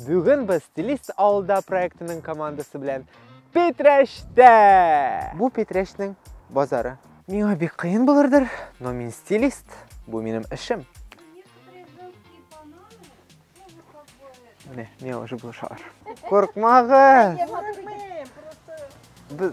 Бүген без Стилист авылда проектының командасы белән Питрәштә! Бу Питрәшнең базары. Миңа бик кыен булырдыр, но мин стилист, бу минем эшем. Менә, миңа уже булышалар. Куркмагыз! Без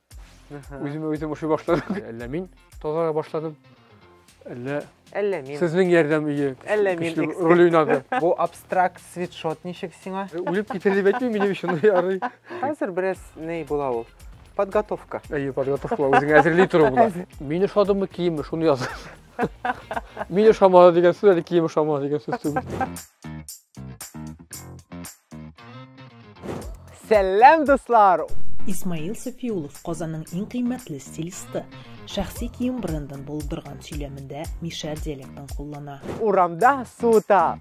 Үземә үзем ошый башладым. Әллә мин тазара башладым. Әллә Әллә мин. Сезнең ярдәм ие. Әллә мин. Роль уйнады. Бу абстракт свитшот ничек сиңа? Э, үлеп китер дип әйтмим, минем өчен ярый. Хәзер бераз ней була ул. Подготовка. Әйе, подготовка. Үзеңә әзерли тору була. Мин ошадымы киеме, шуны яз. Мин ошамады дигән сүз әле кием ошамады дигән сүз түгел. Сәлам, дуслар! Исмаил Сафиулов Казанның иң кыйммәтле стилисты. Шәхси кием брендын булдырган сөйләмендә мишәр диалектын куллана. Урамда суыта.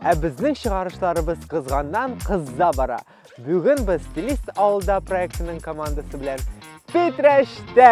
Ә безнең чыгарышларыбыз кызганнан кызза бара. Бүген без Стилист авылда проектының командасы белән Питрәчтә!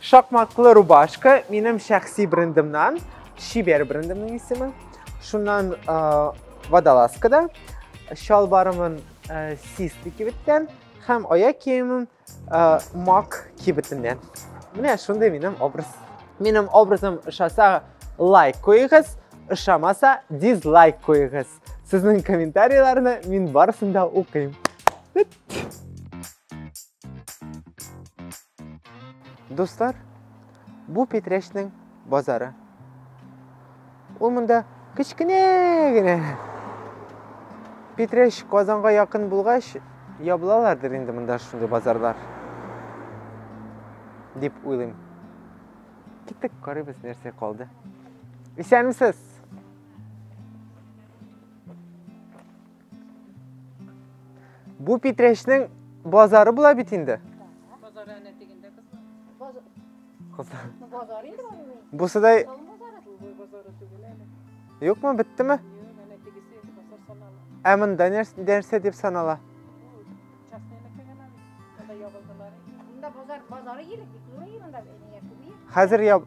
Шакмаклы рубашка минем шәхси брендымнан, Шибер брендымның исеме. Шуннан водолазка да, чалбарымын систы кибеттән һәм аяк киемем мак кибетеннән. Менә шундый минем образ. Минем образым ошаса лайк куегыз, ошамаса дизлайк куегыз. Сезнең комментарийларны мин барысын да укыйм. Дуслар, бу Петрәчнең базары. Ул монда кечкенә генә. Петрәч Казанга якын булгач, ябылалардыр инде монда шундый базарлар. Дип уйлыйм. Киттек, карыйбыз нәрсә калды. Исәнмесез! Бу Питрәчнең базары була бит инде. Базар әнә тегендә кызлар. Кызлар. Базар инде аны. Бу сыдай. Юкмы, биттеме? Ә монда нәрсә дип санала? Хәзер яб...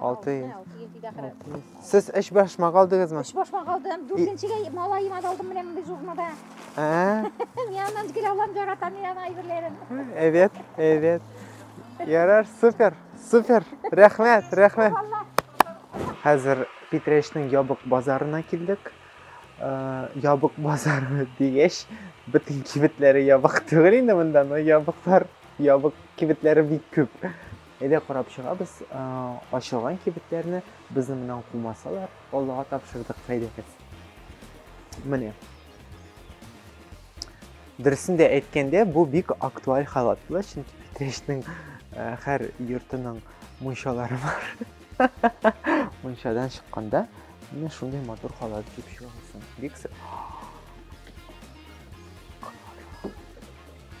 Алты йөз. Сез эш башмак алдыгызмы? Эш башмак алдым. Дүртенчегә малаем алдым менә мондый журнада. Ә? Мин аннан гел алам яратам мин ана әйберләрен. Әйбәт, әйбәт. Ярар, супер, супер. Рәхмәт, рәхмәт. Хәзер Питрәчнең ябык базарына килдек. Э, ябык базары дигәч, бөтен кибетләре ябык түгел инде монда, но ябыклар, ябык кибетләре бик күп. Әйдә карап чыгабыз ачылган кибетләрне, безне моннан кумасалар, Аллага тапшырдык файдагыз. Менә. Дөресен дә әйткәндә, бу бик актуаль халат була, чөнки Питрәчнең һәр йортының мунчалары бар. Мунчадан чыкканда менә шундый матур халат киеп чыгасың. Бик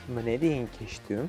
Менә дигән киштү.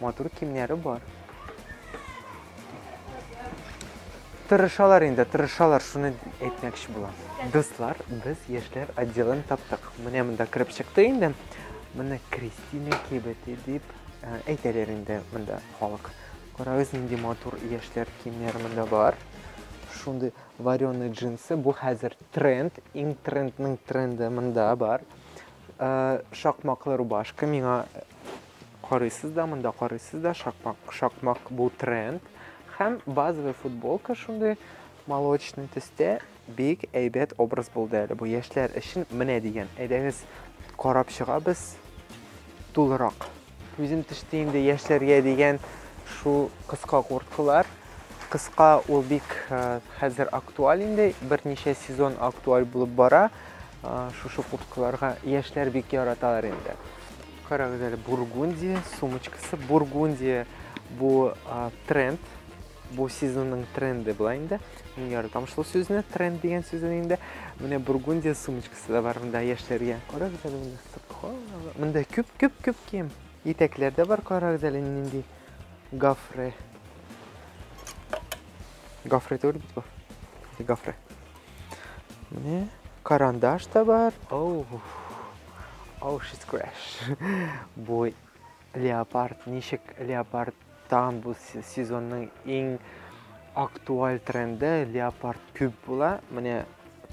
Матур кимнәре бар. Тырышалар инде, тырышалар, шуны әйтмәкче булам. Дуслар, без яшьләр отделын таптык. Менә монда кереп чыкты инде. Моны Кристина кибете дип э, әйтәләр инде монда халык. Карагыз, нинди матур яшьләр кимнәр монда бар. Шундый вареный джинсы, бу хәзер тренд, иң трендның тренды монда бар. Э, шакмаклы рубашка миңа Карыйсыз да монда карыйсыз да шакмак шакмак бу тренд һәм базовый футболка шундый молочный төстә бик әйбәт образ булды әле бу яшьләр өчен менә дигән әйдәгез карап чыгабыз тулырак күзем төште инде яшьләргә дигән шул кыска курткалар кыска ул бик э, хәзер актуаль инде берничә сезон актуаль булып бара э, шушы курткаларга яшьләр бик яраталар инде Карагыз әле, Бургундия сумочкасы. Бургундия бу тренд, бу сезонның тренды була инде. Мин яратам шул сүзне, тренд дигән сүзне инде. Менә Бургундия сумочкасы да бар монда яшьләргә. Карагыз әле монда сырка. Монда күп, күп, күп кием. Итәкләр дә бар, карагыз әле нинди гафре. Гафре түгел бит бу. Гафре. Менә карандаш та бар. Оу. Оу, шиз краш. Бу леопард, ничек леопард тагын бу сезонның иң актуаль тренды леопард күп була. Менә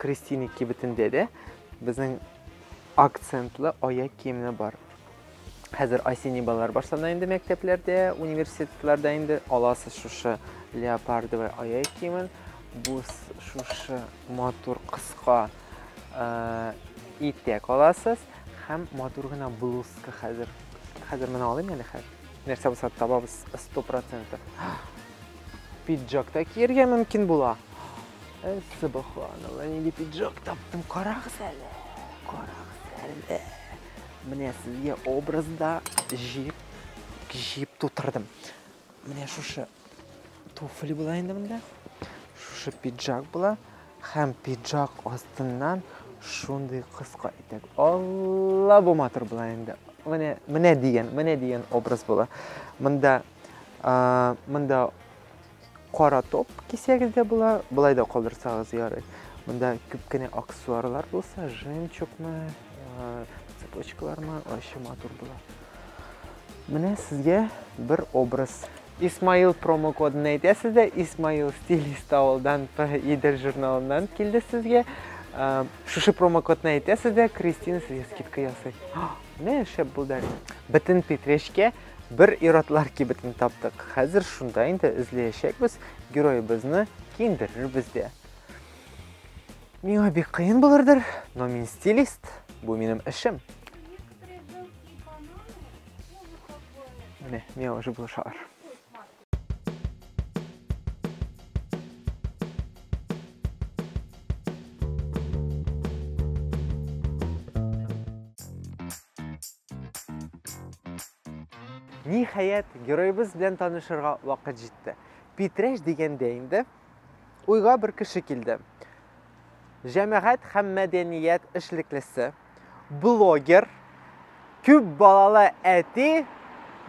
Кристина кибетендә дә безнең акцентлы аяк киемне бар. Хәзер осенний балалар башлана инде мәктәпләрдә, университетларда инде аласыз шушы леопардовый аяк киемен. Бу шушы матур кыска итә каласыз һәм матур гына блузка хәзер хәзер менә алыйм әле хәзер нәрсә булса табабыз сто процентов пиджак та киергә мөмкин була субханалла нинди пиджак таптым карагыз әле карагыз әле менә сезгә образда җиеп җиеп тутырдым менә шушы Туфли була инде монда. Шушы пиджак була. Һәм пиджак астыннан шундый кыска итәк. Алла бу матур була инде. Менә менә дигән, менә дигән образ була. Монда монда кара топ кисәгез дә була, болай да калдырсагыз ярый. Монда күп кенә аксессуарлар булса, жемчугмы, цепочкалармы, ачы матур була. Менә сезгә бер образ. Исмаил промокодын әйтәсез дә, Исмаил стилист авылдан Идел журналыннан килде сезгә. Ә, шушы промокодны әйтәсез дә, Кристина сезгә скидка ясый. Менә шәп булды. Бөтен Петречкә бер иратлар кибетен таптык. Хәзер шунда инде эзләячәкбез, героебызны киендерербез дә. Миңа бик кыен булырдыр, но мин стилист, бу минем эшем. Менә миңа уже булышалар. Ниһаять, героебыз белән танышырга вакыт җитте. Питрәш дигәндә инде уйга бер кеше килде. Җәмәгать һәм мәдәният эшлеклесе блогер, күп балалы әти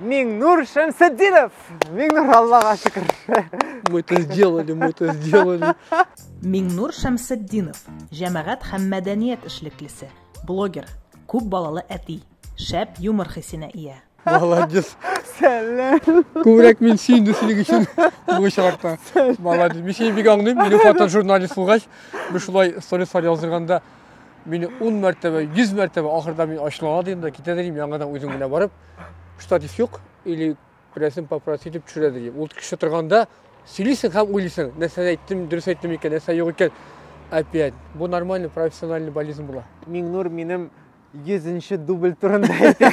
Миңнур Шәмсетдинов. Миңнур, Аллага шөкер. Мы это сделали, мы это сделали. Миңнур Шәмсетдинов, җәмәгать һәм мәдәният эшлеклесе, блогер, күп балалы әти, шәп юмор хисенә ия. Молодец. Сәлләм. Күбрәк мин сөенде синең өчен бу очракта. Молодец. Мин сине бик аңлыйм. Мине фото журналист булгач, без шулай сторислар яздырганда мине 10 мәртәбә, 100 мәртәбә ахырда мин ачулана дим дә китә дим, яңадан үзем генә барып, штатив юк или берәрсен попросить итеп төшерә дим. Ул кеше торганда сөйлисең һәм уйлыйсың, нәрсә әйттем, дөрес әйттем икән, нәрсә юк икән. Опять. Бу нормальный профессиональный болезнь була. Миңнур минем 100-нче дубль турында әйтә.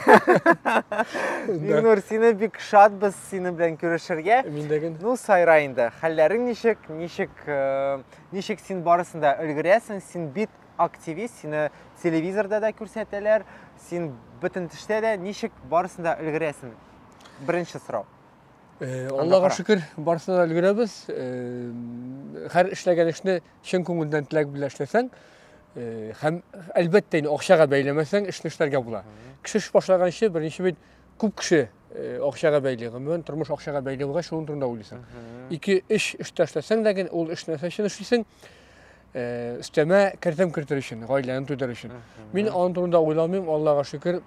Минур, сине бик шатбыз синең белән күрешергә. Мин дә гел. Ну, сайра инде. Хәлләрең ничек? Ничек э, ничек син барысын да өлгерәсең? Син бит активист, сине телевизорда да күрсәтәләр, син бөтен төштә дә ничек барысын да өлгерәсең? Беренче сорау. Э, Аллага шөкер, барысын да өлгерәбез. Э, һәр эшләгән эшне чын күңелдән теләк белән эшләсәң һәм әлбәттә инде акчага бәйләмәсәң эшне эшләргә була кеше эш башлаганчы беренче бит күп кеше акчага бәйле гомумән тормыш акчага бәйле булгач шуның турында уйлыйсың ике эш өстә эшләсәң дә гел ул эш нәрсә өчен эшлисең өстәмә кертем кертер өчен гаиләне түдәр өчен мин аның турында уйламыйм аллага шөкер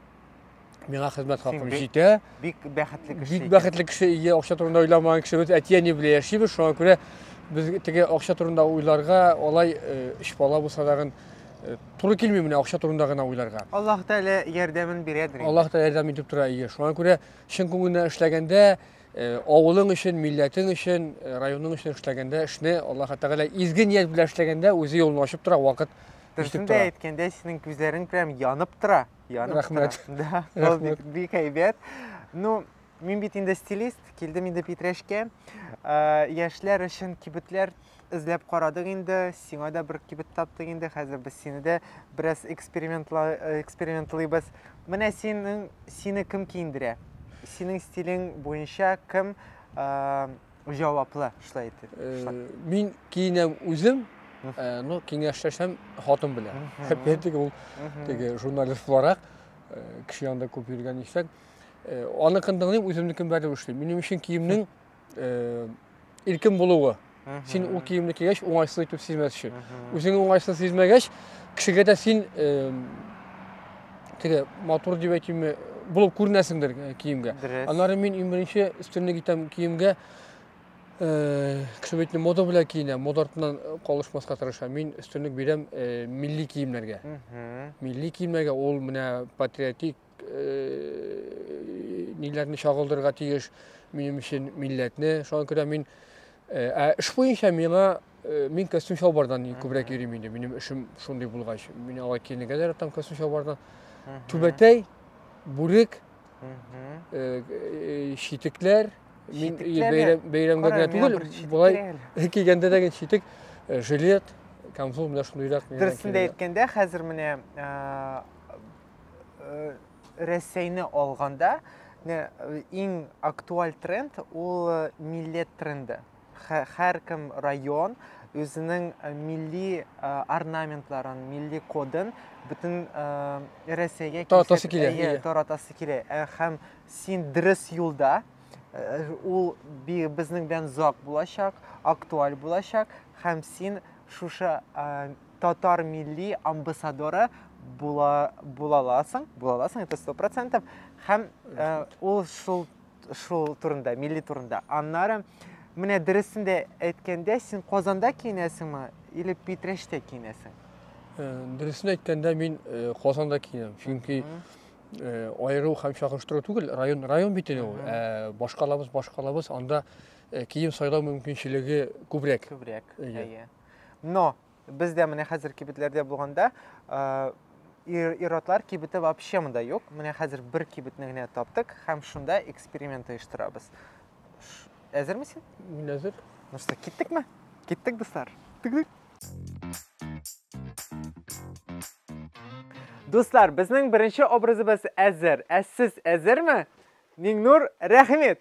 миңа хезмәт хакым җитә. Бик бәхетле кеше. Бик бәхетле кеше, ие, акча турында уйламаган кешебез, әти-әни белән яшибез, шуңа күрә без теге акча турында уйларга, алай өч э, бала булса тагын э, туры килми менә акча турында гына уйларга. Аллаһ Тәгалә ярдәмен бирәдер. Аллаһ Тәгалә ярдәм итеп тора, ие. Шуңа күрә чын күңелдән эшләгәндә, э, авылың өчен, милләтең өчен, районың өчен эшләгәндә, эшне Аллаһ Тәгалә изге ният белән эшләгәндә, үзе юлын ачып тора, вакыт Дөресен дә әйткәндә, синең күзләрең прям янып тора. Яным Рәхмәт. Да, ул бик, бик әйбәт. Ну, мин бит инде стилист, килдем инде Питрәшкә. Ә, яшьләр өчен кибетләр эзләп карадык инде, сиңа да бер кибет таптык инде, хәзер без сине дә бераз экспериментла, экспериментлыйбыз. Менә синең, сине кем киендерә? Синең стилең буенча кем ә, җаваплы эшләй итеп. Э, мин киенәм үзем, э, но киңәшләшәм хатын белән. Әпәтик ул теге журналист буларак э, кеше янында күп йөргән исәк. Аныкын тыңлыйм, үземнекен бәреп эшлим. Минем өчен киемнең иркен булуы. Син ул киемне кигәч уңайсыз итеп сизмәс өчен. Үзең уңайсыз сизмәгәч, кешегә дә син Теге матур дип әйтимме, булып күренәсеңдер э, киемгә. Дөрес. Аннары мин иң беренче өстенлек итәм киемгә э, кеше бит мода белән киенә, мода артыннан э, калышмаска тырыша. Мин өстенлек бирәм э, милли киемнәргә. Мгм. Милли киемнәргә ул менә патриотик э, ниләрне чагылдырырга тиеш минем өчен милләтне. Шуңа күрә мин э, ә эш буенча миңа Э, мин костюм чалбардан күбрәк йөрим инде минем эшем шундый булгач мин алай киенергә дә яратам костюм чалбардан түбәтәй бүрек читекләр э, э, мин бәйрәмгә генә түгел болай кигәндә дә читек жилет камзол менә шундыйрак дөресен дә әйткәндә хәзер менә рәсәйне алганда иң актуаль тренд ул милләт тренды һәркем район үзенең э, милли э, орнаментларын, милли кодын бөтен э, Рәсәйгә таратасы килә. Таратасы килә. Һәм син дөрес юлда, ул безнең белән зак булачак, актуаль булачак һәм син шушы татар милли амбассадоры була булаласың, булаласың, это 100%. Һәм ул шул шул турында, милли турында. Аннары менә дөресен дә әйткәндә, син Казанда киенәсеңме или Питрәчтә киенәсең? Э, дөресен әйткәндә мин э, Казанда киенәм. Чөнки э, аеру һәм чагыштыру түгел, район район бит инде ул. Ә башкалабыз башкалабыз, анда кием сайлау мөмкинчелеге күбрәк. Күбрәк. Әйе. Но Без дә менә хәзер кибетләрдә булганда, ир-атлар кибете вообще монда юк. Менә хәзер бер кибетне генә таптык һәм шунда эксперимент оештырабыз. Әзерме син? Мин әзер. Ну что, киттекме? Киттек, дуслар. Дуслар, безнең беренче образыбыз әзер. Ә сез әзерме? Миңнур, рәхмәт.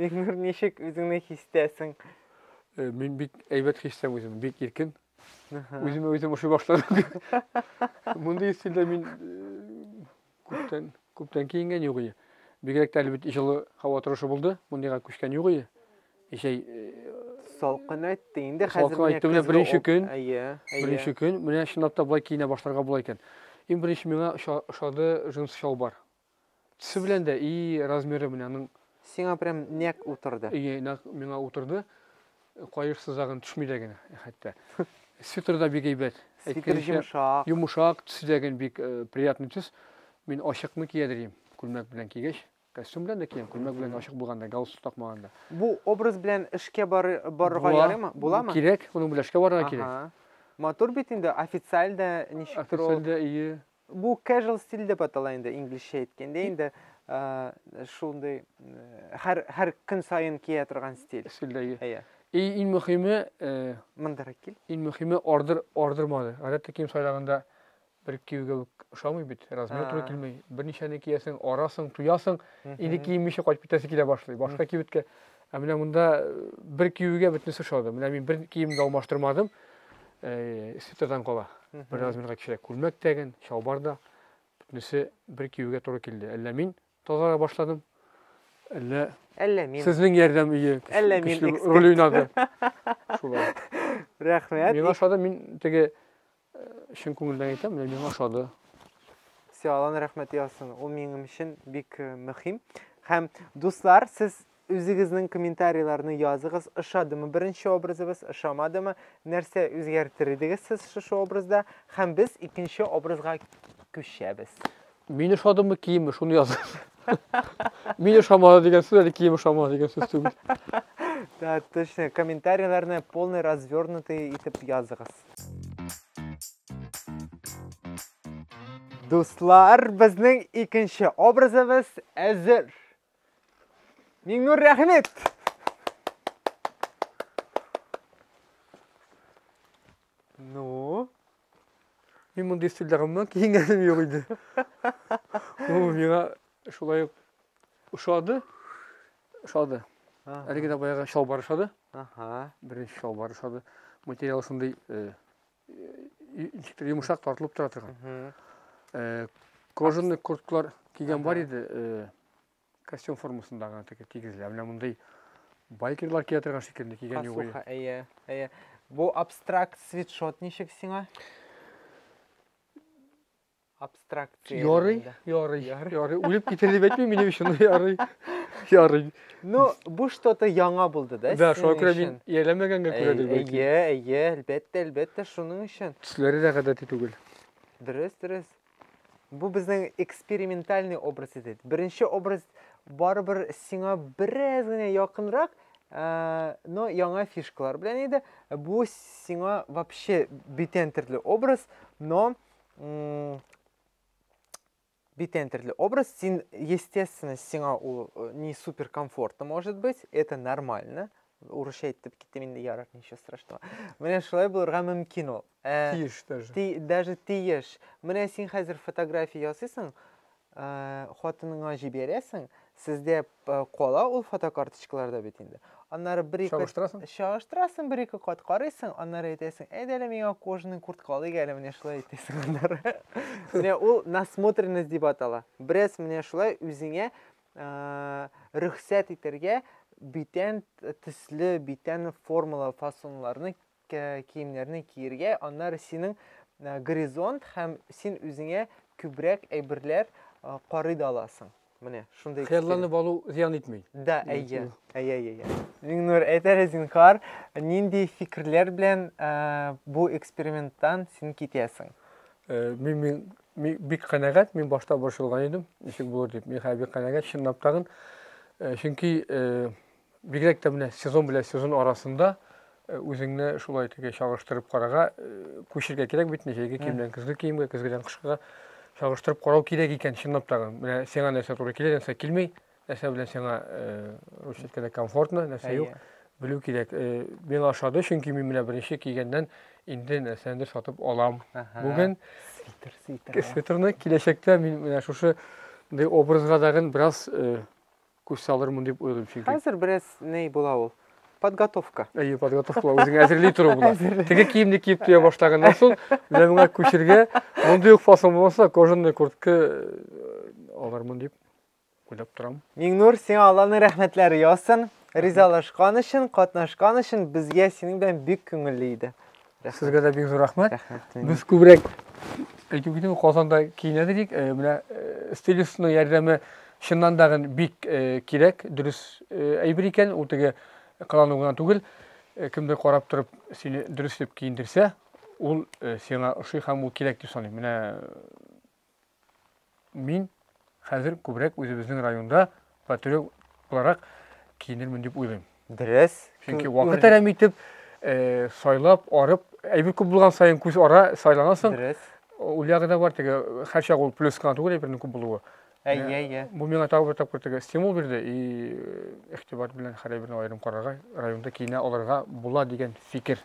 Илнур, ничек үзеңне хистәсең? Э, мин бик әйбәт хистәм үзем, бик иркен. Үземә үзем ошый башладым. Мондый стильдә мин э, күптән күптән киенгән юк ие. Бигрәк тә әлбит җылы һава торышы булды. Мондыйга күчкән юк ие. Җәй э, салкын әйтте. Инде хәзер салкын әйтте. Менә беренче көн. Әйе. Беренче көн. Менә чынлап та болай киенә башларга була икән. Иң беренче миңа ошады джинс чалбар. Төсе белән дә и размеры белән аның. Сиңа прям нәкъ утырды. Ие, нәкъ миңа утырды. Каеш сызагын төшми дә генә, хәтта. Свитер да бик әйбәт. Свитер йомшак. Йомшак, төсе дә генә бик приятный төс. Мин ачыкны кия дирим, күлмәк белән кигәч. Костюм белән дә киям, күлмәк белән ачык булганда, галстук такмаганда. Бу образ белән эшкә барырга ярыймы? Буламы? Кирәк, моның белән эшкә барырга кирәк. Матур бит инде, официаль дә ничектер ул. Официаль дә, ие. Бу casual стиль дип атала инде, инглизчә әйткәндә инде шундый һәр һәр көн саен кия торган стиль. Стильдәге. Әйе. И иң мөхиме, мондара кил. Иң мөхиме ордер ордермады. Гадәттә кием сайлаганда бер киюгә үк ошамый бит. Размер туры килми. Берничәне киясең, арасың, туясың, инде киенмичә кайтып китәсе килә башлый. Башка кибеткә Ә менә монда бер киюгә бөтенесе ошады. Менә мин бер киемне алмаштырмадым. Свитердан кала. Бер размерга кечерәк күлмәк тәген, чалбар да. Бөтенесе бер киюгә туры килде. Әллә мин тазара башладым? Әллә Әллә мин. Сезнең ярдәм ие. Әллә мин роль уйнады. Шулай. Рәхмәт. Мин ошады, мин теге Чын күңелдән әйтәм, менә миңа ошады. Все, Алланың рәхмәте яусын. Ул минем өчен бик э, мөһим. Һәм, дуслар, сез үзегезнең комментарийларны языгыз. Ошадымы беренче образыбыз, ошамадымы? Нәрсә үзгәртер идегез сез шушы образда? Һәм без икенче образга күчәбез. Мин ошадымы, киемме, шуны языгыз. Мин ошамады дигән сүз әле кием ошамады дигән сүз түгел. Да, точно. Комментарийларны полный развернутый итеп языгыз. Дуслар, безнең икенче образыбыз әзер. Миңнур, рәхмәт! Ну? Мин мондый стильдә гомумән киенгәнем юк иде. Бу миңа шулай ук ошады. Ошады. Әлеге дә баягы чалбар ошады. Ага. Беренче чалбар ошады. Материал шундый э, ничектер йомшак тартылып тора торган кожаный курткалар кигән бар иде костюм формасындагы теге тигезләр менә мондый байкерлар кия торган шикелле кигән юк әйе әйе әйе бу абстракт свитшот ничек сиңа абстракция ярый ярый ярый үлеп китер дип әйтмим минем өчен ярый ярый ну бу что то яңа булды да да шуңа күрә мин ияләмәгәнгә күрәдер бәлки әйе әйе әлбәттә әлбәттә шуның өчен төсләре дә гадәти түгел дөрес дөрес бу безнең экспериментальный образ иде беренче образ барыбер сиңа бераз генә якынрак Э, но яңа фишкалар белән иде бу сиңа вообще бүтән төрле образ но Битен төрле образ, син, естественно, сиңа ул э, не супер комфортно может быть, это нормально. Урысча әйтеп киттем инде ярар, ничего страшного. Менә шулай булырга мөмкин ул. Ә, тиеш даже. Ти, даже тиеш. Менә син хәзер фотография ясыйсың, Хатыныңа җибәрәсең, сездә кала ул фотокарточкаларда бит инде. Аннары бер ике чагыштырасың. Чагыштырасың бер ике кат карыйсың, аннары әйтәсең, әйдә әле миңа кожаный куртка алыйк әле менә шулай әйтәсең аннары. Менә ул насмотренность дип атала. Бераз менә шулай үзеңә рөхсәт итәргә битән төсле, битән формалы фасоннарны киемнәрне киергә, аннары синең горизонт һәм син үзеңә күбрәк әйберләр карый да аласың. Менә шундый хыялланып алу зыян итми. Да, әйе. Әйе, әйе. Миңнур, әйтәле зинхар, нинди фикерләр белән бу эксперименттан син китәсең? Э, мин мин бик канәгать, мин башта борчылган идем, ничек булыр дип. Мин хәзер бик канәгать, чынлап тагын. Э, чөнки э, Бигрәк тә менә сезон белән сезон арасында үзеңне шулай теге чагыштырып карарга күчергә кирәк бит, җәйге киемнән көзге киемгә, көзгедән кышкыга чагыштырып карау кирәк икән, чынлап та. Менә сиңа нәрсә туры килә, нәрсә килми, нәрсә белән сиңа русчаткәдә комфортно, нәрсә юк, белү кирәк. Миңа ошады, чөнки мин менә беренче кигәннән инде нәрсәндер сатып алам. Бүген свитер, свитер. Свитерны киләчәктә мин менә шушы образга дагын бераз Күз салырмын дип уйлыйм чөнки. Хәзер бераз ней була ул. Подготовка. Әйе, подготовка була, үзеңә әзерли тору була. Теге киемне киеп туя башлаганнан соң, менә моңа күчергә, мондый ук фасон булмаса, кожаный куртка э, алырмын дип уйлап торам. Миңнур, сиңа Алланың рәхмәтләре яусын. Ризалашкан өчен, катнашкан өчен безгә синең белән бик күңелле иде. Сезгә дә бик зур рәхмәт. Без күбрәк әйтү китү Казанда киенә дидек. Э, менә э, стилистның ярдәме чыннан да бик э, кирәк, дөрес әйбер икән, ул теге кылану гына түгел. Кемдер карап торып сине дөрес дип киендерсә, ул сиңа ошый һәм ул кирәк дип саныйм. Менә Мин хәзер күбрәк үзебезнең районда патриот буларак киенермен дип уйлыйм. Дөрес. Чөнки вакыт әрәм итеп, э, сайлап, арып, әйбер күп булган саен күз ара сайланасың. Дөрес. Ул ягы да бар теге, һәр чак ул плюс кына түгел әйбернең күп булуы. Әйе, э, әйе. Бу миңа тагы бер тапкыр теге стимул бирде и э, игътибар белән һәр әйберне аерым карарга, районда киенә алырга була дигән фикер.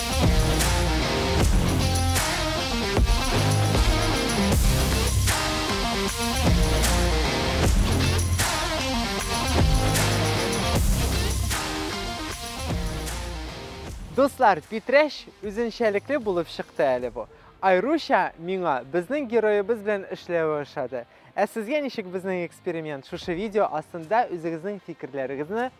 Дуслар, Питрәч үзенчәлекле булып чыкты әле бу. Айруча миңа безнең героебыз белән эшләве ошады. Ә сезгә ничек безнең эксперимент? Шушы видео астында үзегезнең фикерләрегезне